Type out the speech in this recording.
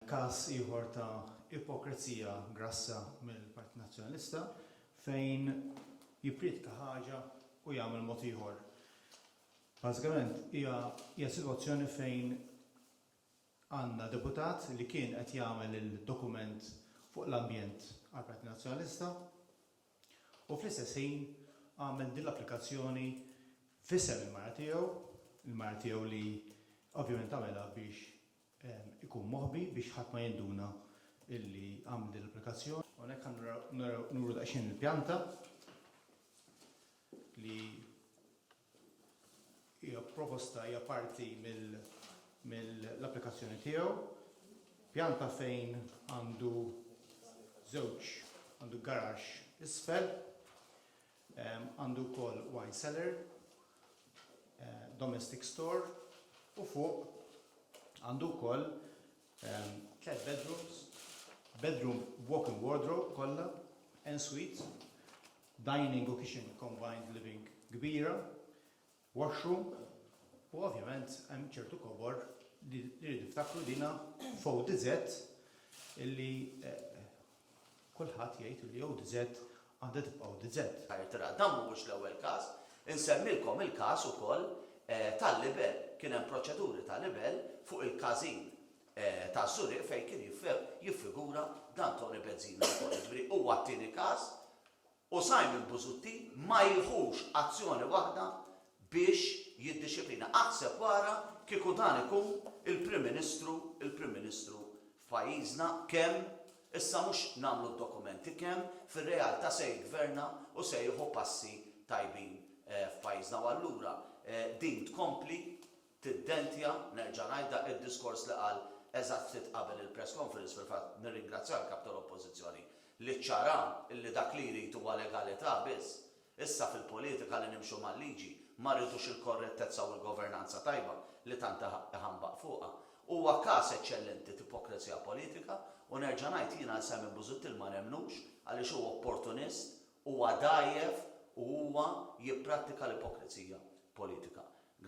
Każ ieħor ta' ipokrezija grassa mill-Partit Nazzjonalista fejn jipprietka ħaġa u jagħmel mod ieħor. Bażikament hija hija sitwazzjoni fejn għandna deputat li kien qed jagħmel il-dokument fuq l-ambjent għall-Partit Nazzjonalista u fl-istess ħin għamel din l-applikazzjoni f'isem il-mara tiegħu, il-mara tiegħu li ovvjament għamilha biex ikun moħbi biex ħadd ma jinduna illi għamel din l-applikazzjoni. Hawnhekk ħa nuru daqsxejn il-pjanta li hija proposta hija parti mill-applikazzjoni tiegħu. Pjanta fejn għandu żewġ għandu garax isfel Għandu wkoll wine cellar, domestic store u fuq għandu wkoll tliet bedrooms, bedroom b'walk-in wardrobe kollha, en-suite, dining u kitchen combined living kbira, washroom u ovvjament hemm ċertu kobor li rridu niftakru dina f'ODZ illi kulħadd jgħid illi ODZ għandha tibqa' ODZ. Irtirat. Dan mhuwiex l-ewwel każ. Insemmilkom il-każ ukoll tal-libell. Kien hemm proċeduri ta' libell fuq il-każin taż-Żurrieq fejn kien jiffigura dan Toni Bezzina wkoll. Jiġifieri huwa t-tieni każ U Simon Busuttil ma jieħux azzjoni waħda biex jiddixxiplina. Aħseb wara kieku dan ikun il-Prim Ministru, il-Prim Ministru f'pajjiżna, kemm, issa mhux nagħmlu d-dokumenti, kemm fir-realtà se jiggverna u se jieħu passi tajbin f'pajjiżna. U allura din tkompli tiddentja, nerġa' ngħidha, id-diskors li qal eżatt ftit qabel il-press conference, fil-fatt nirringrazzja l-Kap tal-Oppożizzjoni li ċċara li dak li jrid huwa legalità biss. Issa fil-politika li nimxu mal-liġi, ma rridux il-korrettezza u l-governanza tajba li tant iħambaq fuqha. Huwa każ eċċellenti t'ipokrizija politika u nerġa' ngħid jiena għal Simon Busuttil ma nemmnux għaliex hu opportunist, huwa dgħajjef u huwa jipprattika l-ipokrizija politika.